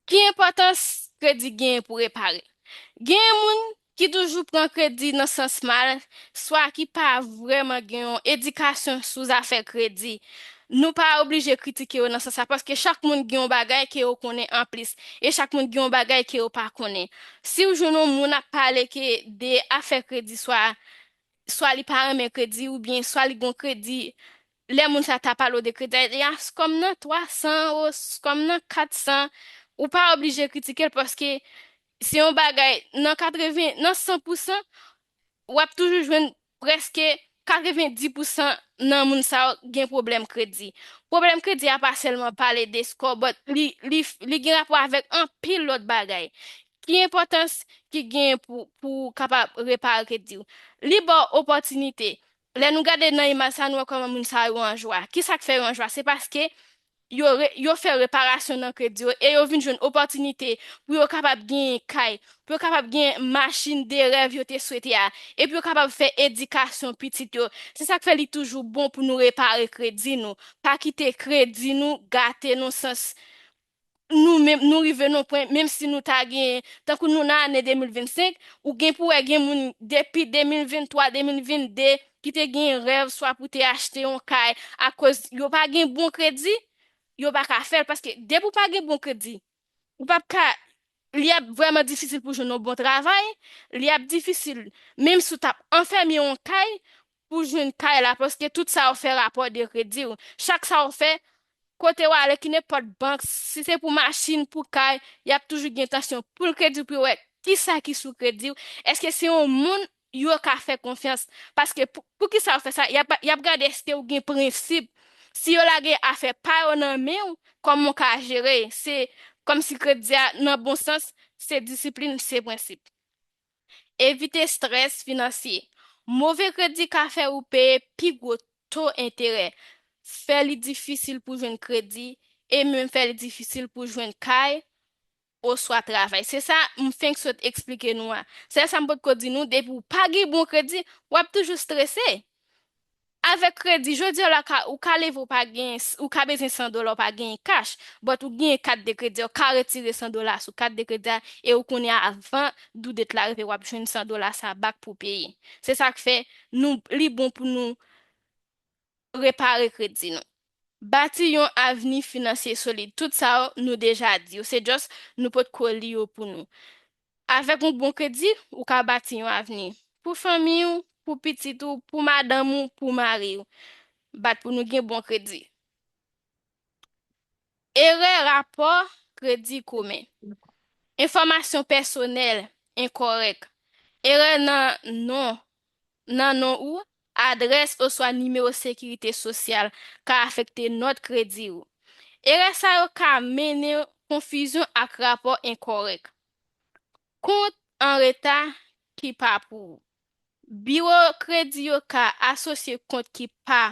Ki enpòtans kredi genyen pou repare? Genyen moun ki toujou pran kredi nan sans mal, swa ki pa vrèman gen yon edikasyon sou zafè kredi. Nou pa oblije kritike yo nan sans sa, paske chak moun gen yon bagay ke yo konnen anplis, e chak moun gen yon bagay ke yo pa konnen. Si ou jwenn yon moun ap pale ke de afè kredi swa, swa li pa renmen kredi oubyen swa li gen yon kredi Lè moun sa ta pale w de kritè li a, skom nan 300 ou skom nan 400, ou pa oblije kritike l paske se yon bagay nan 80, nan 100 pou san, w ap toujou jwenn prèske 90 pou san nan moun sa yo gen pwoblèm kredi. Pwoblèm kredi a pa sèlman pale de score but li gen rapò avèk anpil lòt bagay. Ki enpòtans ki genyen pou ou kapab repare kredi w? Li ba w opòtinite Lè nou gade nan imaj sa a, nou wè kòman moun sa yo anjwa. Ki sa k fè yo anjwa? Se paske yo re, yo fè reparasyon nan kredi yo e yo vin jwenn opòtinite pou yo kapab genyen kay, pou yo kapab genyen machin de rèv yo te swete a e pou yo kapab fè edikasyon pitit yo. Se sa k fè li toujou bon pou nou repare kredi nou. Pa kite kredi nou gate nou sans nou menm nou rive nan yon pwen menm si nou ta gen tankou nou nan ane 2025 ou gen pou wè gen moun depi 2023 2022 ki te gen rèv swa pou te achte yon kay akoz yo pa gen bon kredi yo pa ka fèl paske depi ou pa gen bon kredi ou pap ka li ap vrèman difisil pou jwenn yon bon travay li ap difisil menm si ou tap anfèmye yon kay Pou jwenn kay la paske tout sa ou fè rapò de kredi ou chak sa ou fè kote ou ale ki nenpòt bank si se pou machin pou kay yap toujou gen tansyon poul kredi ou pou yo wè kisa ki sou kredi ou eske se yon moun yo ka fè konfyans paske pou kisa ou fè sa yap gade eske ou gen prensip si yo lage afè pa yo nan men ou kòman ou ka jere se kòmsi kredi a nan bon sans se disiplin se prensip. Evite strès finansye. Move kredi ka fè ou peye pi gwo to enterè, fè li difisil pou jwenn kredi, e menm fè li difisil pou jwenn kay oswa travay. Se sa m fenk sot eksplike nou a. Sèl sa m potko di nou, depi ou pa gen bon kredi, w ap toujou strese. Avèk kredi, jodi la ka ou ka leve ou pa gen, ou ka bezwen 100 dola ou pa genyen kach, but ou genyen kat de kredi a, ou ka retire 100 dola sou kat de kredi a e ou konnen avan due date la rive wap jwenn 100 dola sa back pou peye. Se sak fè nou li bon pou nou repare kredi nou. Bati yon avni finansye solid. Tout sa yo nou deja di yo, se just nou potko li yo pou nou. Avèk yon bon kredi, ou ka bati yon avni. Pou fanmi ou, pou pitit ou, pou madanm ou, pou mari ou. Bat pou nou gen bon kredi. Erè rapò kredi komen. Enfòmasyon pèsonèl enkorèk. Erè nan non, nan non ou Adrès oswa nimewo Sekirite Sosyal ka afekte nòt kredi ou. Erè sa yo ka mennen konfizyon ak rapò enkòrèk. Kont an reta ki pa pou ou. Biwo kredi yo ka asosye kont ki pa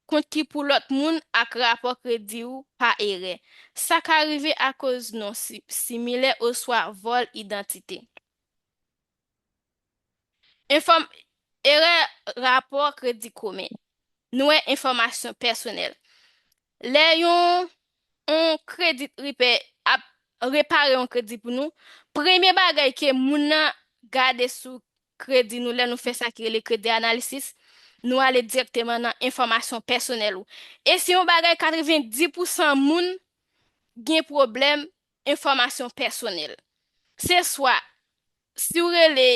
kont ki pou lòt moun ak rapò kredi ou pa erè. Sa ka rive akoz non similè oswa vòl idantite. Erè Rapò Kredi Komen Nou wè enfòmasyon pèsonèl Lè yon yon kredi ripè ap repare yon kredi pou nou, premye bagay ke moun nan gade sou kredi nou lè nou fè sa ki rele kredi analisis, nou ale dirèkteman nan enfòmasyon pèsonèl ou. E se yon bagay 90 pousan moun gen pwoblèm enfòmasyon pèsonèl. Se swa si w rele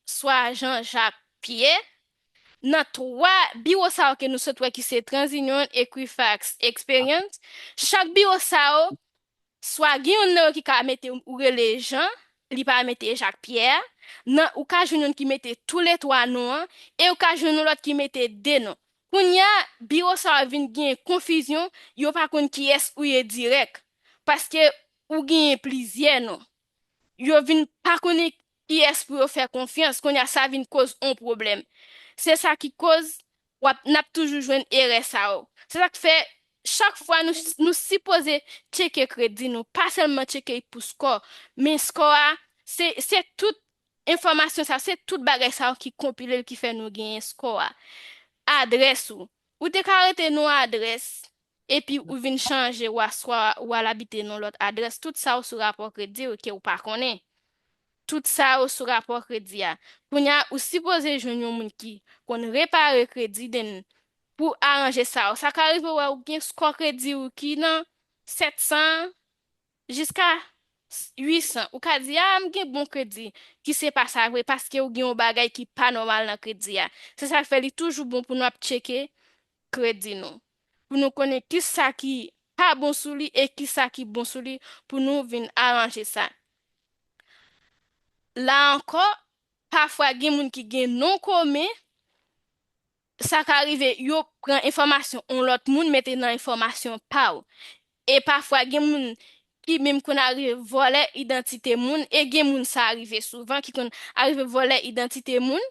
swa Jean Jacques Pierre nan twa biwo sa yo ke nou sot wè ki se TransUnion, Equifax, Experian, chak biwo sa yo swa gen youn nan yo ki ka mete ou rele Jean, li pa mete Jacques Pierre a, nan ou ka jwenn youn ki mete tou le twa non an e ou ka jwenn yon lòt ki mete de non. Kounye a biwo sa a vin genyen konfizyon, yo pa konn kiyès ou ye dirèk, paske ou genyen plizyè non. Yo vin pa konnen kiyès pou yo fè konfyans, kounye a sa vin koz on pwoblèm. Se sa ki koz w ap, n ap toujou jwenn erè sa yo. Se sa k fè chak fwa nou, nou sipoze tcheke kredi nou, pa sèlman tcheke pou skò, men skò a se, se tout Enfòmasyon sa yo, se tout bagay sa yo ki konpile l ki fè nou genyen skò a. Adrès ou. Ou te ka rete nou adrès epi ou vin chanje ou aswa ou al abite nou lòt adrès. Tout sa yo sou rapò kredi ou ke ou pa konnen. Tout sa yo sou rapò kredi a. Kounye a, ou sipoze jwenn yon moun ki konn repare kredi then pou aranje sa yo. Sa ka rive ou wè ou gen skò kredi ou ki nan 700 Jiska 800, ou ka di, ah m gen bon kredi, ki se pa sa vre paske ou gen yon bagay ki pa nòmal nan kredi a. Se sa k fè li toujou bon pou nou ap tcheke kredi nou, pou nou konnen ki sa ki pa bon sou li e ki sa ki bon sou li pou nou vin aranje sa. La ankò, pafwa gen moun ki gen non komen Sa ka rive yo pran enfòmasyon yon lòt moun mete nan enfòmasyon pa w. E pafwa gen moun ki menm konn arive vòlè idantite moun e gen moun sa rive souvan ki konn arive vòlè idantite moun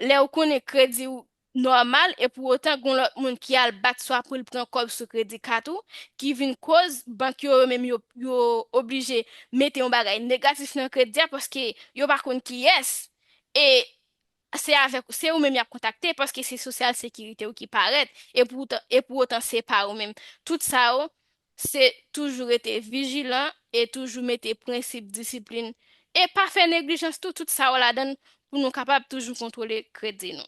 lè ou konnen kredi w nòmal e pou otan gen yon lòt moun ki al bat swa pou l pran kòb sou kredi kat ou ki vin koz bank yo yo menm yo yo oblije mete yon bagay negatif nan kredi a paske yo pa konn kiyès e se avèk ou, se ou menm y ap kontakte paske se sosyal sekirite ou ki parèt e pou e pou otan se pa ou menm. Tout sa yo se toujou rete vijilan e toujou mete prensip disiplin e pa fè neglijans tou, tout sa yo ladan l pou nou kapab toujou kontwole kredi nou.